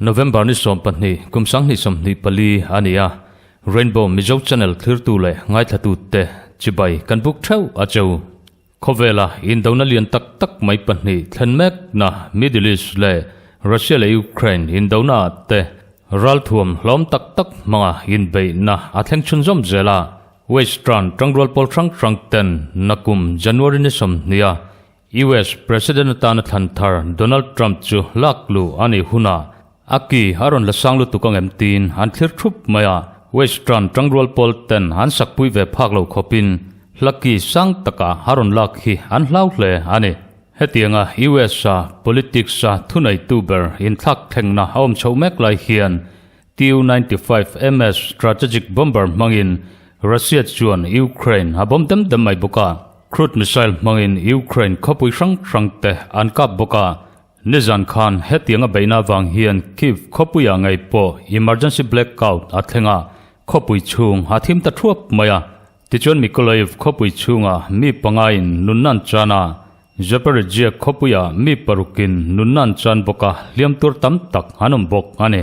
November ni sawm pahnih, kum sang ni sawm hnih pali a ni a, Rainbow Mizo Channel thlirtu leh ngaithlatute chibai kan buk theuh a cheu. Khawvela indona lian tak tak mai pahnih thlen mekna Middle East leh Russia leh Ukraine indona ah te ralthuam hlawm tak tak hmanga inbeihna a thleng chhun zawm zel a, Western tangrual pawl hrang hrang ten na kum January ni sawmhnia US President atana thlanthar Donald Trump chu lakluh a nih hunah A ki a rawn la sang lutuk angem tiin an thlir thup mai a, Western tangrual pawl ten an sakpui ve phak lo khawp in hla ki sang tak a a rawn lak hi an hlau hle a ni. Hetiang a US a politics a thuneitu ber inthlak thlengna a awm chho mek lai hian Tu ninety five MS strategic bomber hmangin Russia chuan Ukraine a bomb dem dem mai bawk a, Crude missile hmangin Ukraine khawpui hrang hrang te an kap bawk a, Nizan khan hetianga beihna avang hian Kyiv khawpuiah ngei pawh emergency blackout a thleng a, khawpui chhung a thim ta thuap mai a. Tichuan Mykolaiv khawpui chhungah mi pangain nunna an chan a, Zaporizhzhia khawpuiah mi parukin nunna an chan bawk a, hliam tur tam tak an awm bawk a ni.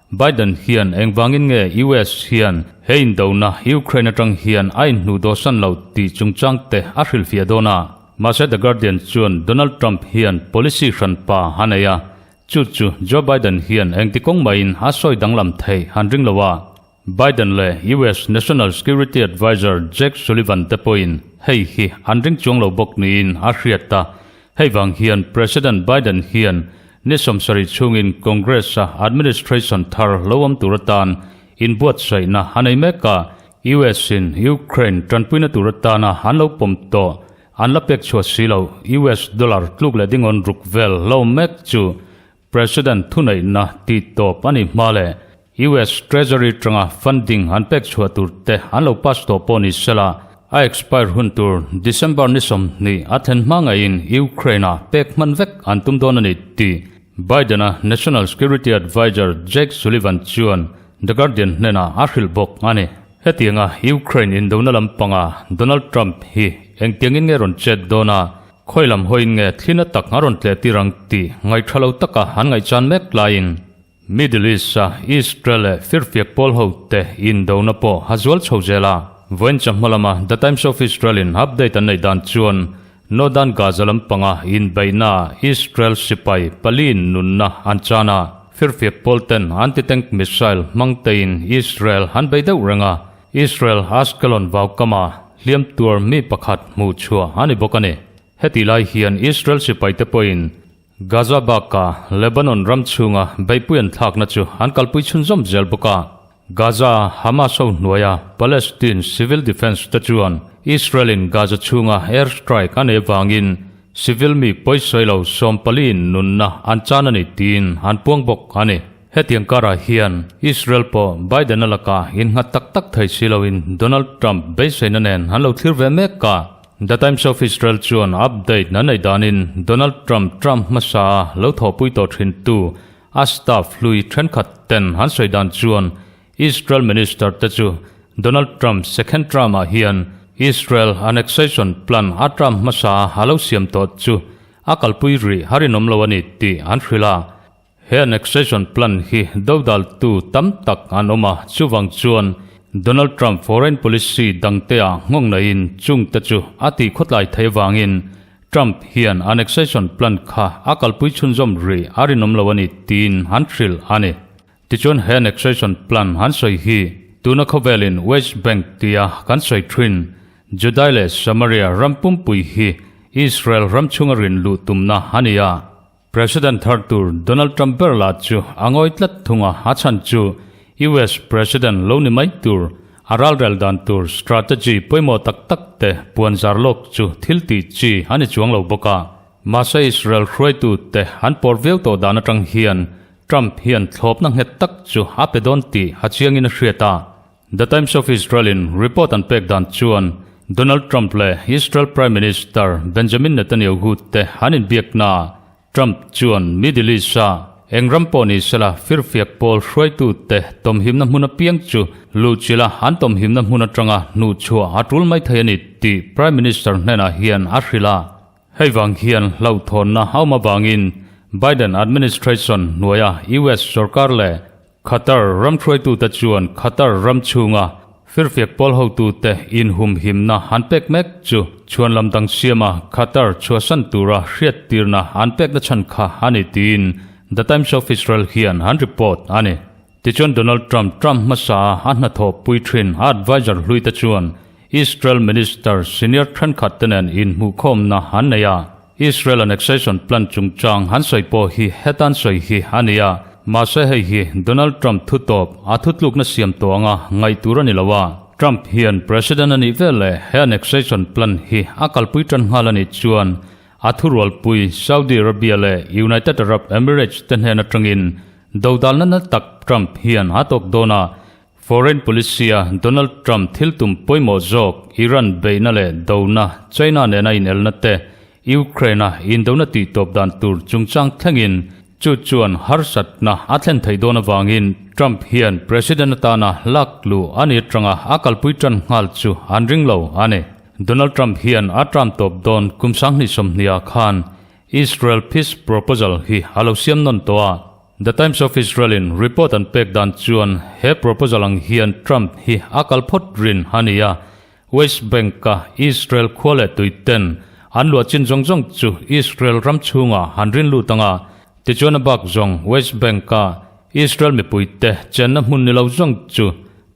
Biden hian engvangin nge US hian he indona Ukraine atang hian a inhnu dawsan lo tih chungchang te a hrilhfiah dawn a. Mahse The Guardian chuan Donald Trump hian policy hran pa a nei a, chu chu Joe Biden hian engti kawng maiin a sawi danglam thei han ring lo a. Biden leh US National Security Advisor Jake Sullivan te pawhin hei hi an ring chuang lo bawk niin a hriat ta. Hei vang hian President Biden hian ni sawmsarih chhungin Congress-a administration thar lo awm tur atan inbuatsaihna a nei mek a, US-in Ukraine tanpuina tur atana an lo pawm tawh, an la pek chhuah si lo, US dollar tluk leh ding awn ruk vel la awm mek chu President thuneihna tih tawp a nih hma leh US Treasury tanga funding an pek chhuah tur te an lo pass tawh pawh ni sela, a expire hun tur December ni sawmhnih a thlen hma ngaihin Ukraine-a pek hman vek an tum dawn a ni tih Biden-a National Security Adviser Jake Sullivan chuan The Guardian hnena a hrilh bawk a ni. Hetianga Ukraine indona lampanga Donald Trump hi engtiangin nge rawn chet dawn a? Khawi lam hawiin nge thlin a tak a rawn tleh tir ang tih ngaihṭha lo taka an ngaihchan mek laiin Middle East-a Israel leh firfiak pawl ho te indona pawh a zual chho zel a. Vawiincha hmalama The Times of Israel-in update an neih dan chuan Northern Gaza lampanga inbeihnaah Israel sipai paliin nunna an chan a, firfiak pawl ten anti-tank missile hmangteiin Israel an bei deuh reng a, Israel Ashkelon vaukama hliam tuar mi pakhat hmuh chhuah a ni bawk a ni. Heti lai hian Israel sipaite pawhin Gaza baka Lebanon ram chhunga beipui an thlakna chu an kalpui chhun zawm zel bawk a. Gaza Hamas ho hnuaia Palestine Civil Defence te chuan Israel-in Gaza chhunga air strike a nei vangin civil mi pawi sawi lo sawm paliin nunna an chan a ni tiin an puang bawk a ni. Hetiang karah hian Israel pawh Biden-a lakah innghat tak tak thei si loin Donald Trump beiseina nen an lo thlir ve mek a. The Times of Israel chuan update a neih danin Donald Trump Trump hmasaa lo thawhpui tawh thintu a staff hlui thenkhat ten an sawi dan chuan Israel Minister te chu Donald Trump second term-ah hian Israel annexation plan a Trump hmasaa a lo siam tawh chu a kalpui rih har in awm lo a ni tih an hrilh a. He annexation plan hi dodaltu tam tak an awm a, chuvang chuan Donald Trump foreign policy dangtea nghawng naihin chungte chu a tih khawtlai theih avangin Trump hian annexation plan kha a kalpui chhunzawm rih a rinawm lo a ni tiin an hrilh a ni. Tichuan he annexation plan an sawi hi tuna khawvelin West Bank tia kan sawi thin Judae leh Samaria ram pumpui hi Israel ram chhunga rin luh tumna a ni a, President thar tur Donald Trump ber lah chu a ngawi tlat thung a, a chhan chu US President lo ni mai tur, a ralrel dan tur strategy pawimawh tak tak te puan zar lawk chu thil ti chi a ni chuang lo bawk a. Mahse Israel hruaitu te an pawr viau tawh dan atang hian Trump hian thlawpna nghet tak chu a pe dawn tih a chiangin a hriat a, The Times of Israel-in report an pek dan chuan Donald Trump leh Israel Prime Minister Benjamin Netanyahu te an inbiaknaah Trump chuan Middle East-a eng ram pawh ni sela firfiak pawl hruaitu te tawmhimna hmun apiang chu luhchilh a an tawmhimna hmun atanga hnuhchhuah a tul mai thei a ni tih Prime Minister hnenah hian a hrilh a. Hei vang hian hlauhthawnna a awm avangin Biden administration hnuaia US sawrkar leh Qatar ramhruaituta chuan Qatar ram chhunga firfiak pawl hotute inhumhimna an pek mek chu chhuanlam dang siama Qatar chhuahsan tura hriattirna an pekna chhan kha a ni tiin The Times of Israel hian an report a ni. Tichuan Donald Trump Trump hmasaa a hnathawh pui thin a advisor hluite chuan Israel Minister senior thenkhat te nen inhmuhkhawmna an nei a, Israel Annexation Plan chungchang han sawi pawh hi hetan sawi hi a ni a, mahse hei hi Donald Trump thutawp a thutlukna siam tawh anga ngaih tur a ni lo a, Trump hian President a nih vel leh he Annexation Plan hi a kalpui tan nghal a nih chuan a thurualpui Saudi Arabia leh United Arab Emirates te hnen atangin dodalna naltak Trump hian a tawk dawn a, Foreign Policy a Donald Trump thil tum pawimawh zawk, Iran beihna leh dona, China nena inelna te, Ukraine a indona tih tawp dan tur chungchang thlengin chu chuan harsatna a thlen theih dawn avangin Trump hian President atana lak luh a ni atanga a kalpui tan nghal chu an ring lo a ni. Donald Trump hian a tram tawp dawn kum sanghnih sawmhnih ah khan Israel Peace Proposal hi a lo siam nawn tawh a, The Times of Israel-in report an pek dan chuan he proposal ang hian Trump hi a kal phawt rin a ni a. West Bank-a Israel khua leh tuiten an luah chin zawng zawng chu Israel ram chhunga han rin lut anga, tichuan a bak zawng West Bank-a Israel mipuite chenna hmun ni lo zawng chu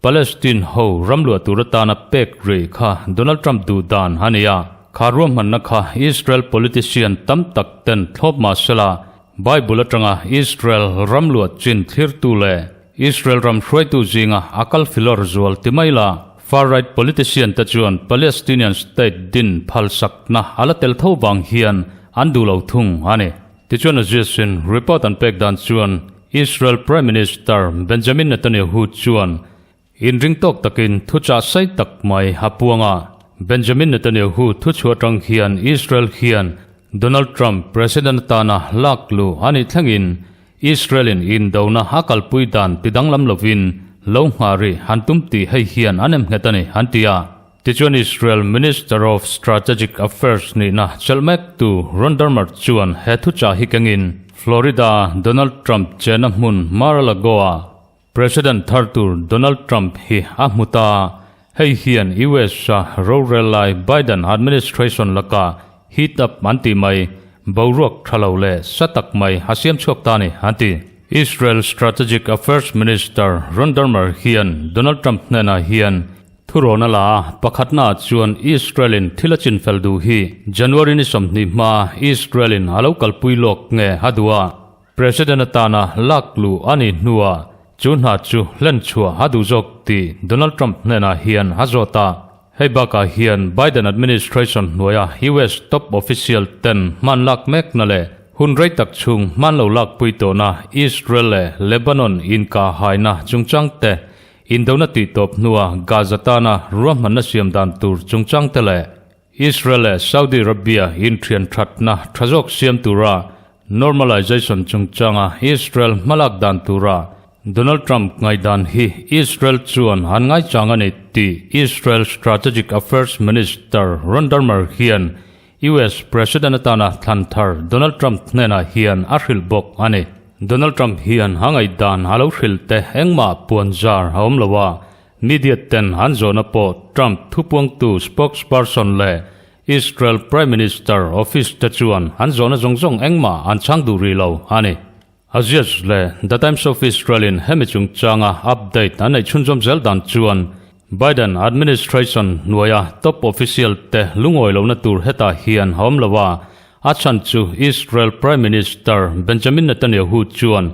Palestine ho ram luah tur atana pek rih kha Donald Trump duh dan a ni a. Kha ruahmanna kha Israel politician tam tak ten thlawp mahsela, Bible atanga Israel ram luat chin thlirtu leh Israel ram hruaitu zinga a kal filar zual ti mai la, far right politician te chuan Palestinian state din phalsakna a la tel tho vang hian an duh lo thung a ni. Tichuan a zia sin report an pek dan chuan Israel Prime Minister Benjamin Netanyahu chuan Inring tawk takin thu chah sai tak mai apuanga Benjamin Netanyahu thu chhuah tang hian Israel hian Donald Trump President atana lak lu a nih thlengin Israelin indona a kalpui dan ti danglam lovin lo nghah rih han tum tih hei hian a nem nghet a ni an ti a. Tichuan Israel Minister of Strategic Affairs nihna chelh mek tu Ron Dermer chuan he thu chah hi kengin Florida Donald Trump chenna hmun Mar-a-Lago-a President thar tur Donald Trump hi a hmu ta, hei hian US-a rorel lai Biden administration laka heat up an tih mai, boruak tha lo leh sa tak mai a siam chhuak ta a ni, a ti. Israel Strategic Affairs Minister Ron Dermer hian Donald Trump hnenah hian, Thurawna la a pakhatnaah chuan Israel-in thil a chin fel duh hi January ni sawmhnih hmaa Israel-in a lo kalpui lawk nge a duh a? President atana lak lu a nih hnua chu hna chu hlen chhuah a duh zawk tih Donald Trump hnenah hian a zawt a. Hei bakah hian Biden administration hnuaia US top official ten hman lak mekna leh hun rei tak chhung hman lo lak pui tawhna Israel leh Lebanon inkahaina chungchang te, indona tih tawp hnua Gaza tana ruahmanna siam dan tur chungchang te leh Israel leh Saudi Arabia inthian thatna tha zawk siam tura normalization chungchanga Israel hmalak dan tura Donald Trump ngaihdan hi Israel chuan han ngaichang a ni tih Israel Strategic Affairs Minister Ron Dermer hian US President atana thlanthar Donald Trump hnenah hian a hrilh bawk a ni. Donald Trump hian a ngaihdan a lo hrilh te engmah puan zar a awm lo a, Media ten an zawhna pawh Trump thupuangtu spokesperson leh Israel Prime Minister office te chuan an zawhna zawng zawng engmah an chhang duh rih lo a ni. Axios leh The Times of Israel-in hemi chungchanga update an neih chhunzawm zel dan chuan Biden administration hnuaia top official te lungawi lohna tur hetah hian a awm lo a, a chhan chu Israel Prime Minister Benjamin Netanyahu chuan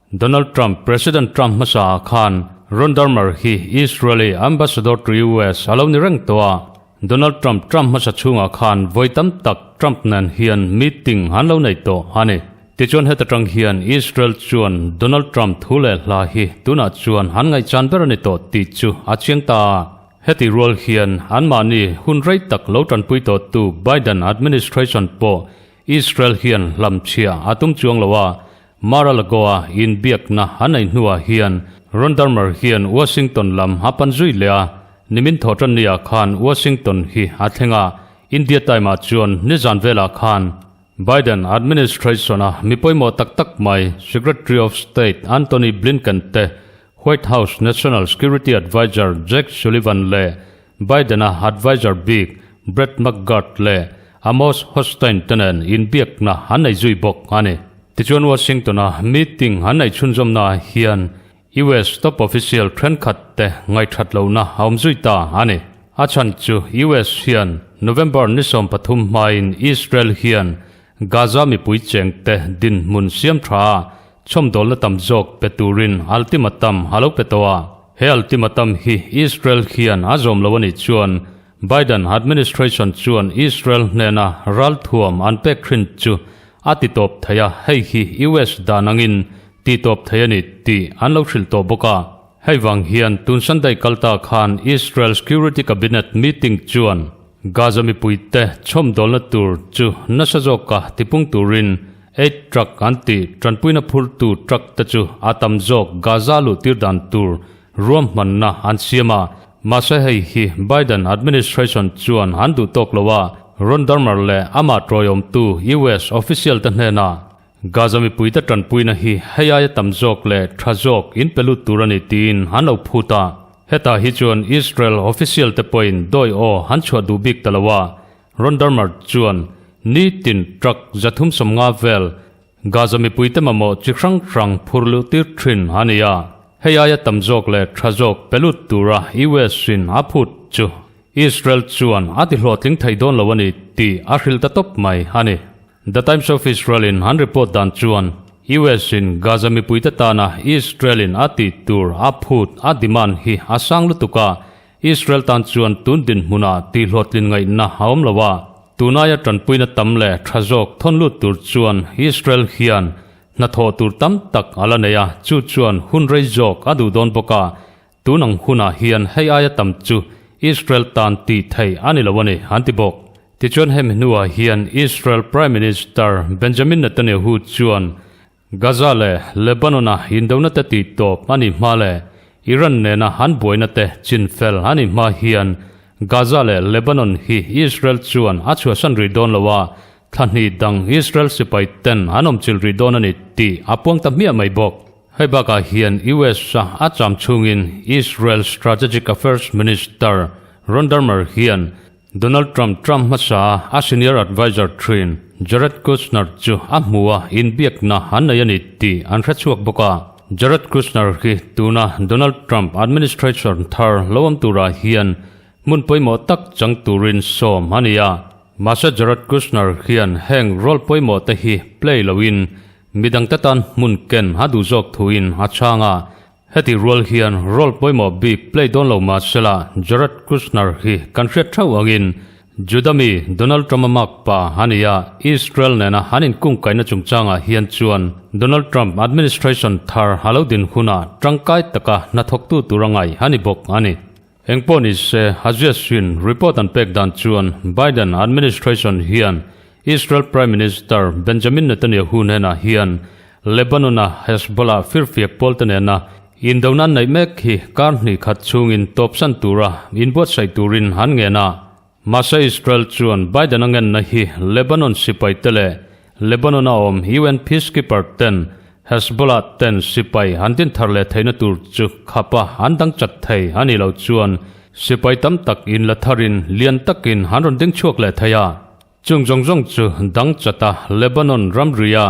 Donald Trump, President Trump hmasa ah khan Ron Dermer hi Israeli Ambassador to US a lo ni reng tawh a. Donald Trump, Trump hmasa chhung ah khan vawi tam tak Trump nen hian meeting an lo nei tawh a ni. Tichuan heta tang hian Israel chuan Donald Trump thu leh hla hi tunah chuan an ngaihchan ber a ni tawh tih chu a chiang ta a. Heti rual hian anmahni hun rei tak lo tanpui tawhtu Biden administration pawh Israel hian hlamchhia a tum chuang lo a, Mar-a-Lagoa inbiakna a nei hnuah hian Rondermer hian Washington lam a pan zui leh a, nimin thaw tan ni ah khan Washington hi a thleng a, India time ah chuan nizan vel ah khan Biden administration-a mi pawimawh tak tak mai Secretary of State Antony Blinken te White House National Security Advisor Jake Sullivan leh Biden-a advisor bik Brett McGurk leh Amos Hochstein te nen inbiakna an nei zui bawk a ni. Tichuan Washington-a meeting an nei chhunzawmnaah hian US top official thenkhat te ngaihthat lohna a awm zui ta a ni. A chhan chu US hian November ni sawm pathum hmain Israel hian Gaza mipui chengte dinhmun siam tha a Chhawmdawlna tam zawk pe turin ultimatum a lo pe tawh a. He ultimatum hi Israel hian a zawm lo a nih chuan Biden administration chuan Israel hnena ralthuam an pek thin chu a ti tawp thei a, hei hi US dan angin ti tawp thei a ni tih an lo hrilh tawh bawk a. Hei vang hian tun Sunday kal ta khan Israel Security Cabinet Meeting chuan Gaza mipuite chhawm dawlna tur chu nasa zawka tipung turin aid truck an tih tanpuina phurtu truck te chu a tam zawk Gaza luhtir dan tur ruahmanna an siam a, mahse hei hi Biden administration chuan an duh tawk lo a, Ron Dermer leh amah tawiawmtu US official te hnenah Gaza mipuite tanpuina hi hei aia tam zawk leh tha zawk in pe lut tur a ni tiin an lo phut a, hetah hi chuan Israel official te pawhin dawi aw han chhuah duh bik ta lo a, Rondermart chuan nitin truck zathum sawmnga vel Gaza mipuite mamawh chi hrang hrang phur luhtir thin a ni a, hei aia tam zawk leh tha zawk pe lut tura US-in a phut chu Israel chuan a tihlawhtling thei dawn lo a ni tih a hrilh ta tawp mai a ni. The Times of Israel-in an report dan chuan US-in Gaza mipuite tana Israel-in a tih tur a phut a demand hi a sang lutuk a, Israel tan chuan tun dinhmunah tihluatlin ngaihna a awm lo a, tunaia tanpuina tam leh tha zawk thawn lut tur chuan Israel hian hnathawh tur tam tak a la nei a, chu chuan hun rei zawk a duh dawn bawk a, Tun ang hunah hian hei aia tam chu Israel tan tih theih a ni lo a ni, an ti bawk. Tichuan hemi hnuah hian Israel Prime Minister Benjamin Netanyahu chuan Gaza leh Lebanon-a indona te tih tawp a nih hma leh Iran nena an buaina te chin fel a nih hma hian Gaza leh Lebanon hi Israel chuan a chhuahsan rih dawn lo a, thlahnih dang Israel sipaiten an awmchilh rih dawn a ni tih a puang ta hmiah mai bawk. Hei bakah hian US-a a cham chhungin Israel Strategic Affairs Minister Ron Dermer hian Donald Trump Trump hmasaa a senior advisor thin Jared Kushner chu a hmua inbiakna an nei a ni tih an hre chhuak bawk a. Jared Kushner hi tuna Donald Trump administration thar lo awm turah hian hmun pawimawh tak chang turin sawm a ni a. Mahse Jared Kushner hian heng role pawimawhte hi play loin Midang te tan hmun ken a duh zawk thuin a chhang a, heti rual hian role pawimawh bik play dawn lo mahsela Jared Kushner hi kan hriat theuh angin Judah mi Donald Trump-a makpa a ni a, Israel nena an inkungkaihna chungchangah hian chuan Donald Trump administration thar a lo din hunah tangkai taka hnathawktu tura ngai a ni bawk a ni. Engpawh nise, Aziasvin report an pek dan chuan Biden administration hian Israel Prime Minister Benjamin Netanyahu hnenah hian Lebanon-a Hezbollah firfiak pawlte nena indona an neih mek hi kar hnih khat chungin tawpsan tura inbuatsaih turin an ngenah Mahse Israel chuan Biden-a ngenna hi Lebanon sipaite leh Lebanon-a awm UN peacekeeper ten, Hezbollah ten sipai han din thar leh theihna tur chu khapa an dang chat thei a nih loh chuan sipai tam tak in la tharin lian takin han rawn ding chhuak leh thei a. Chung zawng zawng chu dang chat a, Lebanon ramria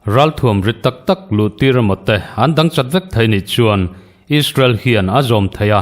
ralthuam ri tak tak luhtir emaw te an dang chat vek thei nih chuan Israel hian a zawm thei a,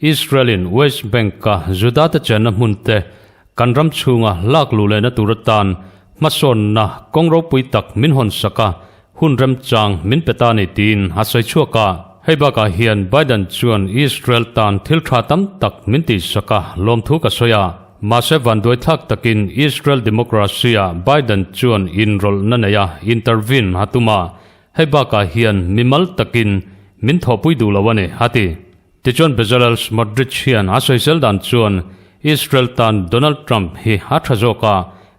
Israel-in West Bank-a Judate chenna hmunte kan ram chhunga lak luh lehna tur atan hmasawnna kawng ropui tak min hawn sak a, hun remchang min pe ta ni tiin a sawi chhuak a. Hei bakah hian Biden chuan Israel tan thil tha tam tak min tih sak a, lawmthu ka sawi a. Mahse vanduaithlak takin Israel democracy-a Biden chuan inrawlhna nei a, intervene a tum a. Hei bakah hian mi mal takin min thawhpui duh lo a ni, a ti. Tichuan Bezalel Smotrich hian a sawisel dan chuan Israel tan Donald Trump hi a tha zawk a,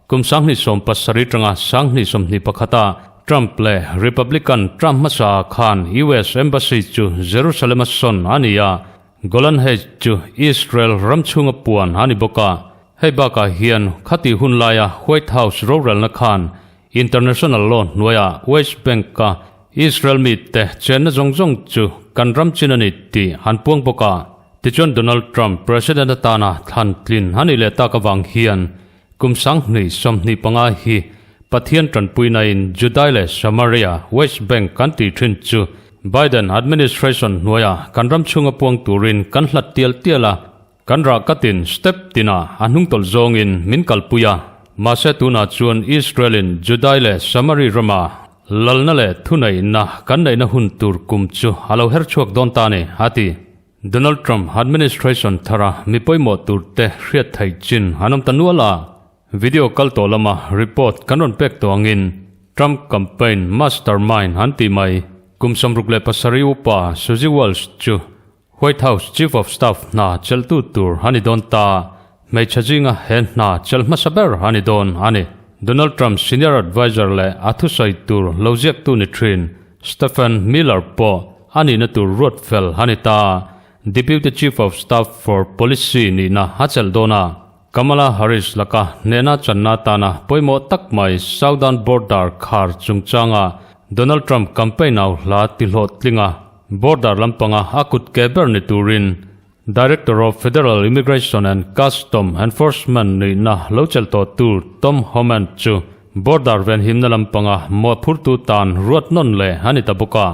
kum sanghnih sawm pasarih atanga sanghnih sawmhnih pakhata Trump leh Republican ṭa hmasa ah khan US Embassy chu Jerusalem a sawn a ni a, Golan Heights chu Israel ram chhunga puan a ni bawk a, hei bakah hian khati hun laia White House rorelna khan International law hnuaiah West Bank-a Israel mite chenna zawng zawng chu kan ram chin a ni tih han puang bawk a. Tichuan Donald Trump President atana thlantlin a nih leh tak avang hian kum sanghnih sawmhnih panga hi Pathian tanpuinain Judai leh Samaria, West Bank, kan tih thin chu Biden administration hnuaiah kan ram chhunga puang turin kan hlat tial tial a. Kan rah katin step tinah a hnung tawlh zawngin min kalpui a, mahse tunah chuan Israel-in Judai leh Samari rama lalna leh thuneihna kan neihna hun tur kum chu a lo her chhuak dawn ta a ni, a ti. Donald Trump administration thara mi pawimawh turte hriat theih chin an awm ta nual a, video kal tawh lama report kan rawn pek tawh angin Trump campaign mastermind an tih mai kum sam ruk leh pasarih upa Suzy Walsh chu White House Chief of Staff hna cheltu tur a ni dawn ta, hmeichhe zinga he hna chel hmasa ber a ni dawn a ni. Donald Trump Senior Advisor leh a thusawi tur lo ziaktu ni thin Stephen Miller pawh a nihna tur ruat fel a ni ta, Deputy Chief of Staff for Policy nihna a chelh dawn a. Kamala Harris laka hnehna channa atana pawimawh tak mai Southern Border khar chungchanga Donald Trump campaign au hla tihlawh tlinga border lampanga a kut ke ber ni turin Director of Federal Immigration and Custom Enforcement nihna lo chel tawh tu Tom Homan chu border venhimna lampanga mawhphurtu tan ruatnawn leh a ni ta bawk a.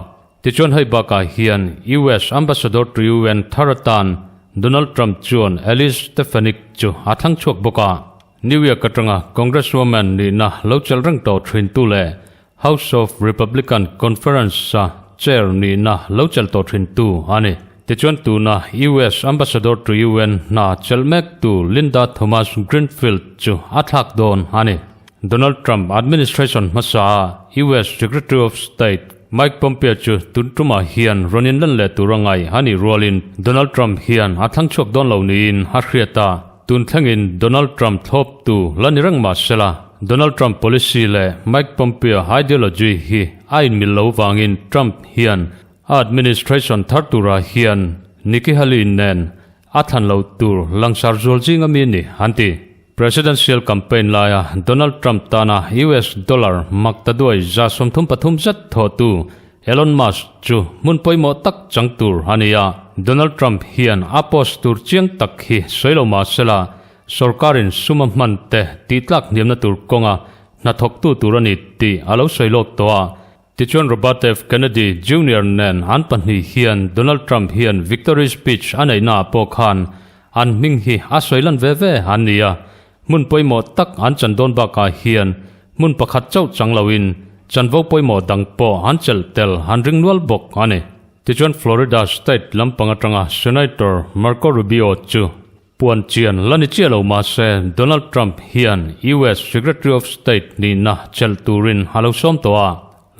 Tichuan hei bakah hian US Ambassador to UN thar atan Donald Trump chuan Elise Stefanik chu a thlang chhuak bawk a, New York atanga Congresswoman nihna lo chelh reng tawh thintu leh House of Republican Conference-a Chair nihna lo chelh tawh thintu a ni. Tichuan tuna US Ambassador to UN hna chelh mek tu Linda Thomas-Greenfield chu a thlak dawn a ni. Donald Trump administration hmasaah US Secretary of State Mike Pompeo chu tun tumah hian rawn inlan leh tura ngaih a nih rualin Donald Trump hian a thlang chhuak dawn lo niin a hriat a. Tun thlengin Donald Trump thlawptu la ni reng mah sela, Donald Trump policy leh Mike Pompeo ideology hi a inmil lo vangin Trump hian a administration thar turah hian Nikki Haley-in nen A thlan loh tur langsar zual zing ami ni, an ti. Presidential campaign laia Donald Trump tana US dollar mak ta duai za sawm thum pathum zet thawhtu Elon Musk chu hmun pawimawh tak chang tur a ni a. Donald Trump hian a post tur chiang tak hi sawi lo mahsela, sorkarin suma hman te tihtlak hniamna tur kawnga hnathawktu tur a ni tih a lo sawi lawk tawh a, Tichuan Robert F. Kennedy, Junior nen an pahnih hian Donald Trump hian victory speech a neihnaah pawh khan an hming hi a sawi lan ve ve an ni a, hmun pawimawh tak an chan dawn bakah hian hmun pakhat chauh chang loin chanvo pawimawh dang pawh an chelh tel an ring nual bawk a ni. Tichuan Florida State lampang atanga Senator Marco Rubio chu Puan chian la ni chiah lo mahse Donald Trump hian US Secretary of State nihna chelh turin a lo sawm tawh a,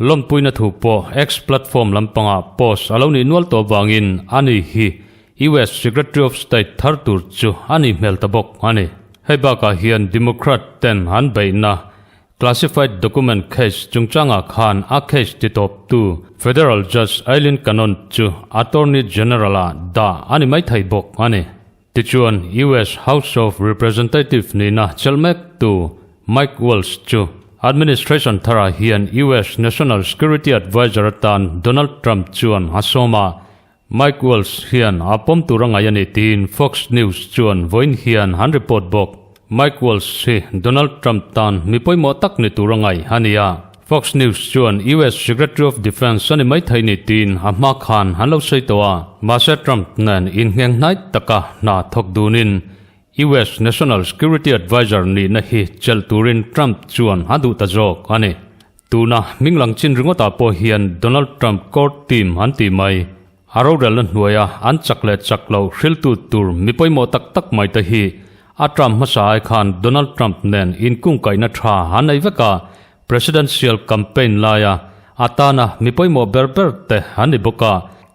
lawnpuina thu pawh X platform lampangah post a lo nih nual tawh vangin a ni hi US Secretary of State thar tur chu a nih hmel ta bawk a ni. Hei bakah hian Democrat-ten an beihna Classified Document Case chungchangah khan a case titawptu Federal Judge Aileen Cannon chu Attorney General-a dah a ni mai thei bawk a ni. Tichuan, US House of Representative nihna chelh mektu Mike Waltz chu administration tharah hian US National Security Advisor atan Donald Trump chuan a sawm a, Mike Waltz hian a pawm tur a ngaih a ni tiin Fox News chuan vawiin hian an report bawk. Mike Waltz hi Donald Trump tan mi pawimawh tak ni tur a ngaih a ni a, Fox News chuan US Secretary of Defence a ni mai thei ni tiin a hma khan an lo sawi tawh a, mahse Trump nen inhngeng hnai taka hna thawk dunin US National Security Advisor nihna hi chelh turin Trump chuan a duh ta zawk a ni. Tuna Minglang Chin ringawtah pawh hian Donald Trump Core Team an tih mai. A rorelna hnuaia an chak leh chak loh hriltu tur mi pawimawh tak tak mai te hi a Trump hmasa ai khan Donald Trump nen inkungkaihna tha an nei vek a, Presidential Campaign laia a tana mi pawimawh ber ber te an ni bawk a,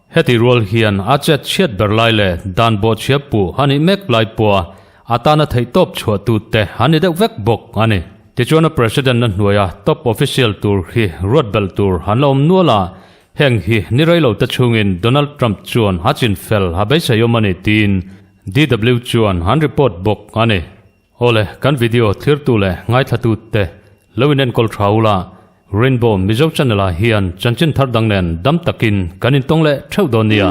Heti rual hian a chat hriat ber lai leh dan bawhchhiar pu a nih mek lai pawha atana theihtawp chhuahtu te an ni deuh vek bawk a ni. Tichuan a President-a hnuaia top official tur hi ruat belh tur an la awm nual a, heng hi ni rei lo te chungin Donald Trump chuan a chin fel a beiseiawm a ni tiin DW chuan an report bawk a ni. Aw le, kan video thlirtu leh ngaithlatu te lo in enkawl tha ula, Rainbow Mizo Channel ah hian chanchin thar dang nen dam takin kan intawng leh theuh dawn nia.